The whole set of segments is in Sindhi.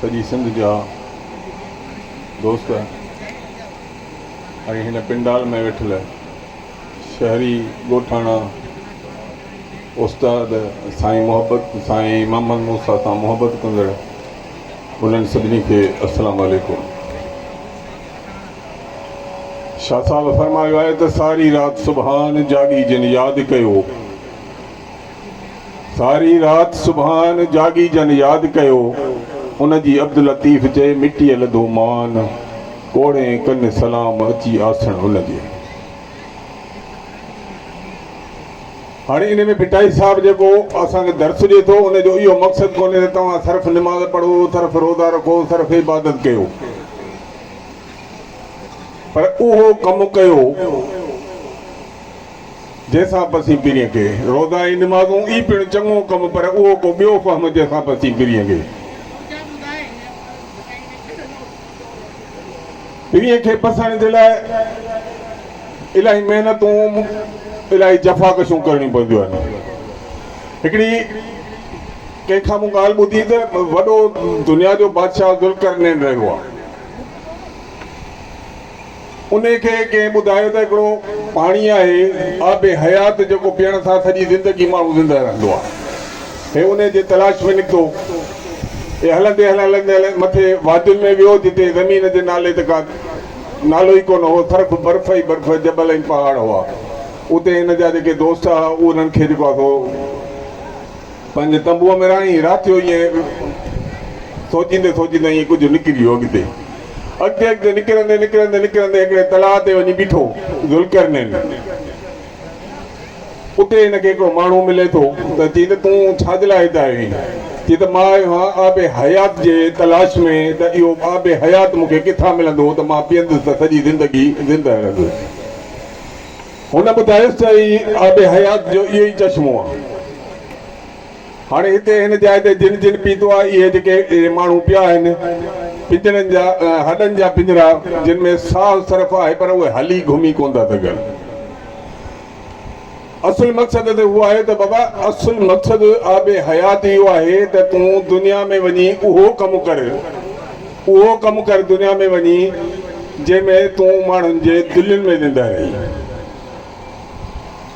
سڄي سنڌ جا دوست ۽ هن پنڊال ۾ ويٺل شهري ڳوٺاڻا استاد سائين محبت سائين محمد موسا سان محبت ڪندڙ انهن سڀني کي السلام عليڪم شاهه صاحب فرمايو آهي ته ساري رات سبحان جاڳي جن ياد ڪيو ساري رات سبحان جاڳي جن ياد ڪيو ان جي عبداللطيف چئي مٽيء لڌو مان ڪوڙي ڪن سلام اچي آسڻ ان جي هاڻي ان ۾ ڀٽائي صاحب جيڪو اسان کي درس ڏئي ٿو ان جو اهو مقصد ڪونهي ته توهان صرف نماز پڙهو، صرف روزا رکو، صرف عبادت ڪيو پر اهو ڪم ڪيو جنهن سان پسين پرين کي روزا ۽ نمازون ئي پڻ چڱو ڪم پر اهو ڪو ٻيو فهم جنهن سان پسين پرين کي. پيء کي پسڻ جي لاء الاهي محنتون الاهي جفاڪشون ڪرڻيون پونديون آهن هڪڙي ڪنهن کان مون ڳالهه ٻڌي ته وڏو دنيا جو بادشاهه ذوالقرنين رهيو آهي انهي کي ڪنهن ٻڌايو ته هڪڙو پاڻي آهي آب حيات جيڪو پيئڻ سان سڄي زندگي ماڻهو زنده رهندو آهي. هي انهي جي تلاش ۾ نڪتو ۽ هلندي هلندي مٿي وادين ۾ ويو جتي زمين جي نالي ته ڪا نالو ئي ڪونه هو صرف برف ئي برف جبل ۽ پهاڙ هئا. اتي هن جا جيڪي دوست هئا انهن کي جيڪو آهي سو. پنهنجي تنبوء ۾ رهائين رات جو ائين سوچيندي سوچيندي ائين ڪجهه نڪري ويو اڳتي. اڳتي اڳتي نڪرندي نڪرندي نڪرندي هڪڙي تلاء تي وڃي بيٺو ذوالقرنين. اتي هن کي هڪڙو ماڻهو ملي ٿو ته چئي ته تون ڇا جي لاء هت آيو آهين؟ چئي ته مان آيو آهيان آب حيات جي تلاش ۾ ته اهو آب حيات مون کي ڪٿان ملندو ته مان پيئندس ته سڄي زندگي زندهه رهندس. هن ٻڌايس ته هي آب حيات جو اهو ئي چشمو آ. هاڻي هتي هن جاء تي جن جن پيتو آ، اهي جيڪي ماڻهو پيا آهن، پڃرن جا، هڏن جا پڃرا، جن ۾ ساهه صرف آهي پر اهي هلي گهمي ڪونه ٿا سگهن. اصل مقصد ته اهو آهي ته بابا اصل مقصد آب حيات اهو آهي ته تون دنيا ۾ وڃي اهو ڪم ڪر، اهو ڪم ڪر دنيا ۾ وڃي، جنهن ۾ تون ماڻهن جي دلين ۾ ويندي رهين.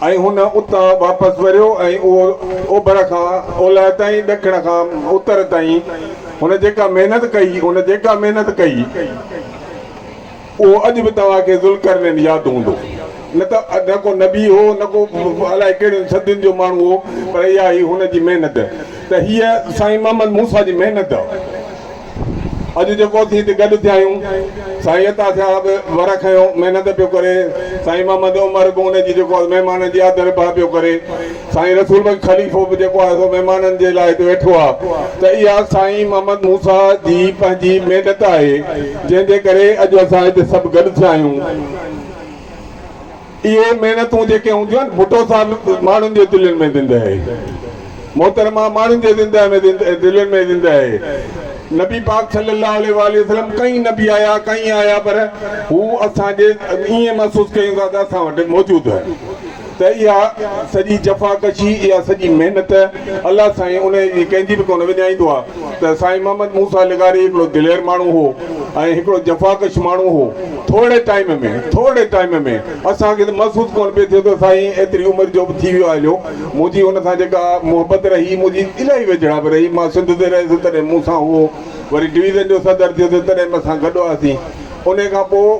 ۽ هن اتان واپس وريو ۽ اهو اوڀر کان اولهه تائين، ڏکڻ کان اتر تائين، هن جيڪا محنت ڪئي، هن جيڪا محنت ڪئي. اهو اڄ به توهان کي ذوالقرنين ياد هوندو. نه ته نه ڪو نبي هو نه ڪو الائي ڪهڙين صدين جو ماڻهو هو پر اها هئي هن جي محنت ته هيء سائين محمد موسيٰ جي محنت اڄ جيڪو اسين هتي گڏ ٿيا آهيون سائين عطا صاحب به ور کنيو محنت پيو ڪري سائين محمد عمر به ان جي جيڪو مهمانن جي آڌر ڀاء پيو ڪري سائين رسول بخش خليفو به جيڪو آهي سو مهمانن جي لاء هتي ويٺو آهي ته اها سائين محمد موسيٰ جي پنهنجي محنت آهي جنهن جي ڪري اڄ اسان هتي سڀ گڏ ٿيا آهيون. اهي محنتون جيڪي هونديون آهن ڀٽو صاحب ماڻهن جي دلين ۾ زنده آهي محترمه ماڻهن جي زنده ۾ دلين ۾ زنده آهي نبي پاڪ صلي الله عليه واٰله وسلم ڪئين نبي آيا ڪئين آيا پر هو اسان جي ائين محسوس ڪيون ٿا ته اسان وٽ موجود آهن. ته اها سڄي جفاڪشي، اها سڄي محنت الله سائين انهيء جي ڪنهن جي به ڪونه وڃائيندو آ ته سائين محمد موسيٰ لغاري هڪڙو دلير ماڻهو هو ۽ هڪڙو جفاڪش ماڻهو هو. ٿورڙي ٽائيم ۾ ٿورڙي ٽائيم ۾ اسان کي ته محسوس ڪونه پئي ٿيو ته سائين ايتري عمر جو به ٿي ويو آ هليو. منهنجي هن سان جيڪا محبت رهي، منهنجي الاهي ويجهڙائپ رهي، مان سنڌ تي رهيس تڏهن مون سان هئو، وري ڊويزن جو صدر ٿيو ته تڏهن به اسان گڏ هئاسين. انهيء کان پوء.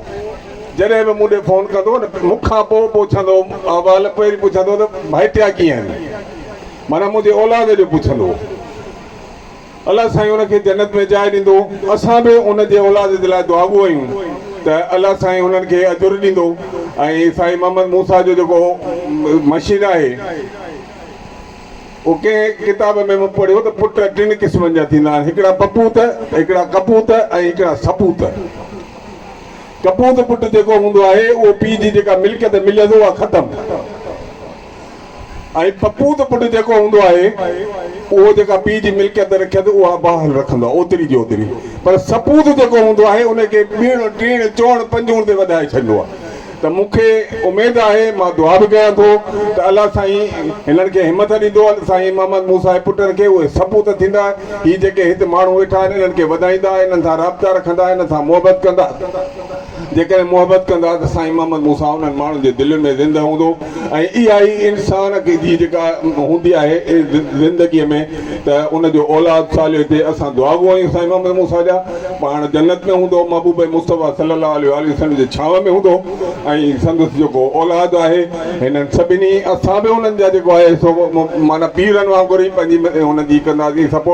جڏهن به مون ڏي فون ڪندو هو ته مون کان پوء پڇندو هو احوال پهرين پڇندو هو ته ڀائٽيا ڪيئن آهن معنيٰ منهنجي اولاد جو پڇندو هو الله سائين ان کي جنت ۾ جاء ڏيندو اسان به ان جي اولاد جي لاء دعاگو آهيون ته الله سائين انهن کي اجر ڏيندو ۽ سائين محمد موسيٰ جو جيڪو مشين آهي اهو ڪنهن ڪتاب ۾ مون پڙهيو ته پٽ ٽن قسمن جا ٿيندا آهن هڪڙا پپوت هڪڙا ڪپوت ۽ هڪڙا سپوت ڪپوت پٽ جيڪو هوندو آهي اهو پيء جي جيڪا ملڪيت مليس اها ختم ۽ پپوت پٽ جيڪو هوندو آهي اهو جيڪا پيء جي ملڪيت رکيت اها بحال رکندو آهي اوتري جي اوتري پر سپوت جيڪو هوندو آهي ان کي ٻيڻ ٽيڻ چوڻ پنجوڻ تي وڌائي ڇڏيندو آهي ته مون کي اميد آهي مان دعا به ڪيان ٿو ته الله سائين هنن کي همٿ ڏيندو سائين محمد موسيٰ جي پٽن کي اهي سپوت ٿيندا هي جيڪي هت ماڻهو ويٺا آهن انهن کي وڌائيندا انهن سان رابطا رکندا انهن سان محبت ڪندا جيڪڏهن محبت ڪندا ته سائين محمد موسيٰ انهن ماڻهن جي دلين ۾ زنده هوندو ۽ اها ئي انسان جي جيڪا هوندي آهي زندگي ۾ ته ان جو اولاد صالح هجي اسان دعاگو آهيون سائين محمد موسيٰ جا پاڻ جنت ۾ هوندو محبوب مصطفيٰ صلي الله عليه واٰله وسلم جي ڇانو ۾ هوندو ۽ سندس جيڪو اولاد آهي هنن سڀني اسان به انهن جا جيڪو آهي سو معنيٰ پيرن وانگر ئي پنهنجي ان جي ڪنداسين سپورٽ